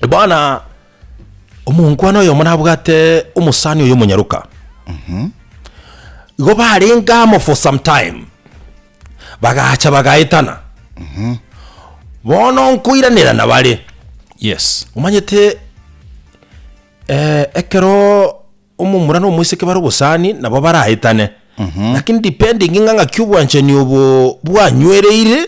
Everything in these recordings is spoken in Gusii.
Bono omonkwana oyomo nabwate omosani oyo omonyaroka igo barenge amo for some time bagacha bagaetana bono nkoiranera bare Yes. omanyete eh, ekero omomura na omoiseke bare obosani nabo baraetane lakini depending ng'a ng'aki obwanchani obo bwanywereire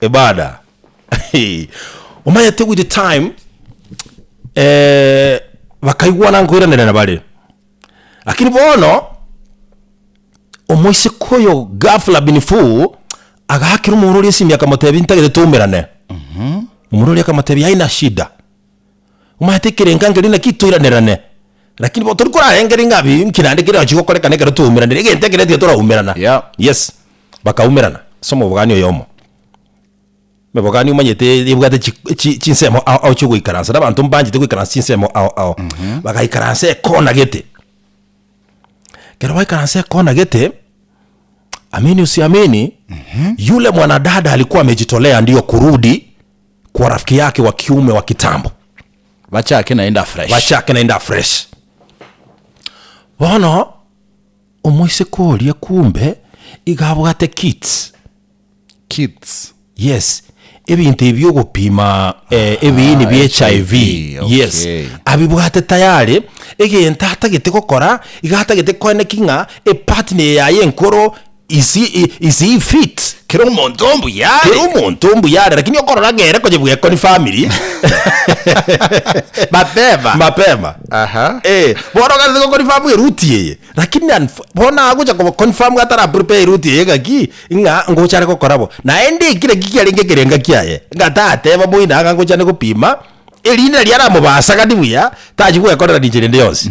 Ebada. Hey. Omanyete with the time eh, bakaigwana nkoiranerana bare. Lakini bono omoiseke oyo ghafla bin fu agaakera omorori esimi akamotebi ntagete toumerane. Omorori akamotebi haina shida. omanyete ekerenka nkeria naki toiranerane, lakini bono tori korarengeri ng'a bi nki naende keria naki gokorekana ekero twaumeranire, egento ekere tiga toraumerana. Yeah. Yes, bakaumerana ase omobogani oyomo. Omobogani omanyete ebwate chi chi chinsemo ao ao chiogoikaransa, na abanto mbanchete goikaransa chinsemo ao ao. Bagaikaransa ekona gete, ekero baikaransa ekona gete, amini usiamini, yule mwanadada alikuwa amejitolea ndio kurudi. kwa rafiki yake wa kiume wa kitambo bachake naende afresh bachake naende afresh bono omoiseke oria kumbe iga abwate kits kits yes ebinto ebi ogopima eh, ebiini bie HIV, HIV okay. yes abibwate tayari egento atagete gokora iga atagete koeneki ng'a epartner yaye enkoro Is is he fit? Kera omonto mbuya are. Kera omonto mbuya are lakini okorora ng'ere konye bwekoni family Mapema. mapema Aha. Eh, bono ogase go confirm eruti eye lakini unf- bono agocha ko confirm atara prepare eruti eye ng'aki ng'a ngochare gokora bo naende ekire ki kiarenge ekerenga kiaye ng'a tateba moino ang'a ngochane gopima erinde riaramobasa gati buya tachi gwekorera ninche rende yonsi.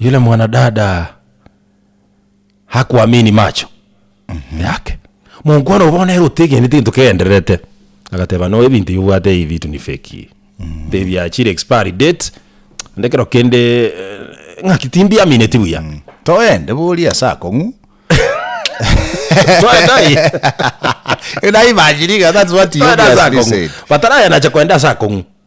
yule mwanadada hakuamini macho yake monkwana obo bono ere otegeneti gento kegendererete agateba no ebinto yobwate ebi bitu ni feki mbe biachire expiry date onde kero kende eh, ng'aki timbiamineti buya toende boria ase akong'u Twende aye. naimajiriga that's what you Twende ase obviously akong'u said batarayanacha kwenda ase akong'u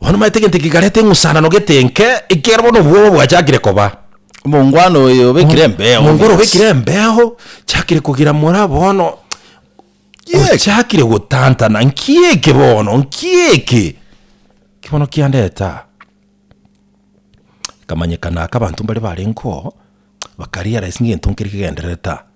Bono omanyete egento eke kikareta eng'usanano gete enke, ekiagera bono obwoba bwachakire koba. Omongwana oyo obekire embeo. Omongwana obekire embeo, chiakire kogira mora bono, Kiekee. ochakire gotantana, nki eke bono, nki eke? Ki bono kiandete aa? Ekamanyekana aka abanto mbare barenge oo, bakariaresi ng'egento nkeri kegendererete aa.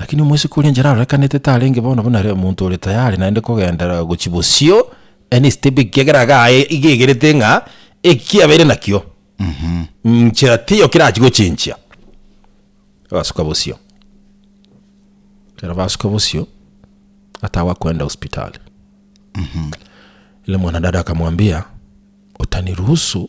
Lakini omosike oria enchera arorekanete tarenge bono buna are omonto ore tayari naende kogenderera gochia bosio, any step ekiagera iga aye iga egerete ng'a eki abeire nakio nchera tiyo kerachie gochenchia, agasuka bosio. Ekero basuka bosio, atagwa koenda hospitali. Yule mwanadada akamwambia, utaniruhusu.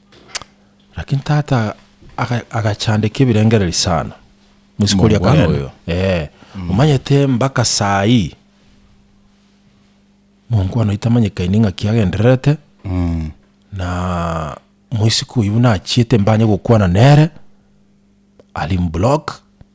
Lakini tata aga- agachandeka ebirengereri sana mosiko oria kare Mongwana. oyo Eh, omanyete mpaka saa hii mongwana itamanyekaini ng'aki agendererete na moisiko oyio buna achiete mbanye gokwana nere ali mblock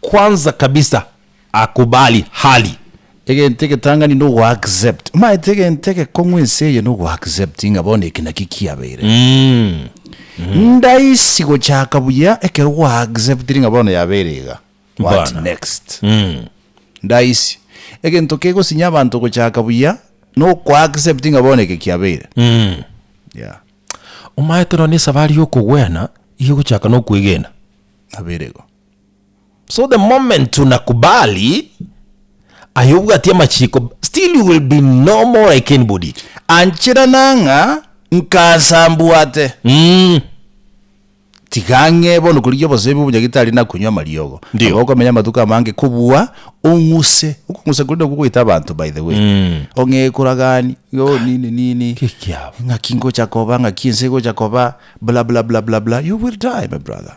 Kwanza kabisa akubali hali. Egento egetang'ani nogo accept. Omaete egento egekong'u ense eye nogo accept ng'a bono eki nakio kiabeire. Ndaisi gochaka buya ekero gwa acceptiri ng'a bono yabeire iga. What next? Ndaisi. Egento kegosinya abanto gochaka buya noko accept ng'a bono eke kiabeire. Yeah. Omaete nonya esabari yokogwena iga egochaka nokwegena. Nabeire igo. So the moment unakubali aye obwati amachiko still you will be no more like anybody. Anchera nang'a nkansa mbwate. Umm. Tiga ang'e bono korigia obosemi bw'omonyagitari na konywa amariogo. Ndio. Aba okomenya amatuko amange kobua ong'use. Okong'usa koria nokwo goita abanto by the way. Ong'e ekura gani, yo nini nini. Ki ekiabo? Ng'aki ngocha koba, ng'aki ense egocha koba, bla bla bla bla bla. You will die my brother.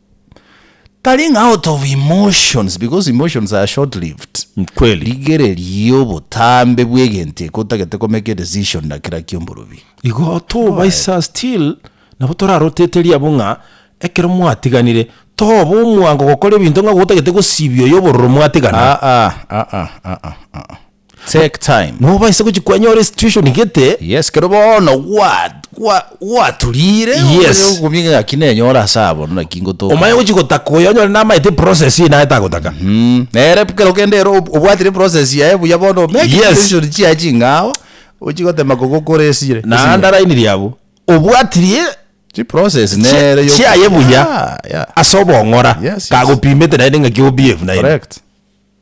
Tari ng'a out of emotions because emotions are short lived. Kweli. Rigereria obotambe bw'egento eke otagete komake a decision ndakera ki omborobia. Igo tobaisa still nabo toraroteteria abwo ng'a ekero mwatiganire toba omwango gokora ebinto ng'a gotagete gosibia oyo obororo mwatiganaa. Aa, aa, aa, aa, aa. Take time. Nobaise gochia kwanyora esituation egete. Yes, kero bono gwaturire omanye okokumia engaki nenyore ase abwo naki ngotoka. Omanye gochia gotaka oyo onyore namanyete eprocess eye naye tagotaka. Nere kero kende ere obwatire eprocess yaye buya bono omeke decision chiaye chingao ochie gotema koba okore esire. Naende arainirie abwo obwatirie chiprocess chiaye buya ase obong'ora kagopimete naende engaki ogobehave naende.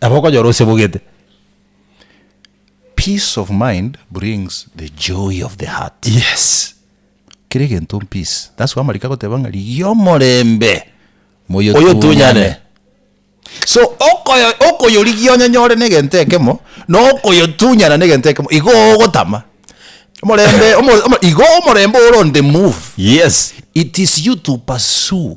Nabo okonyora osebugete. Peace of mind brings the joy of the heart. Yes. Kera egento mpeace. That's why amariko agoteba ng'a rigia omorembe moyotunyane. So okoyo okoyorigia onyonyore negento ekemo, na okoyotunyana negento ekemo, igo ogotama. Omorembe omo omo igo omorembe ore on the move. Yes. It is you to pursue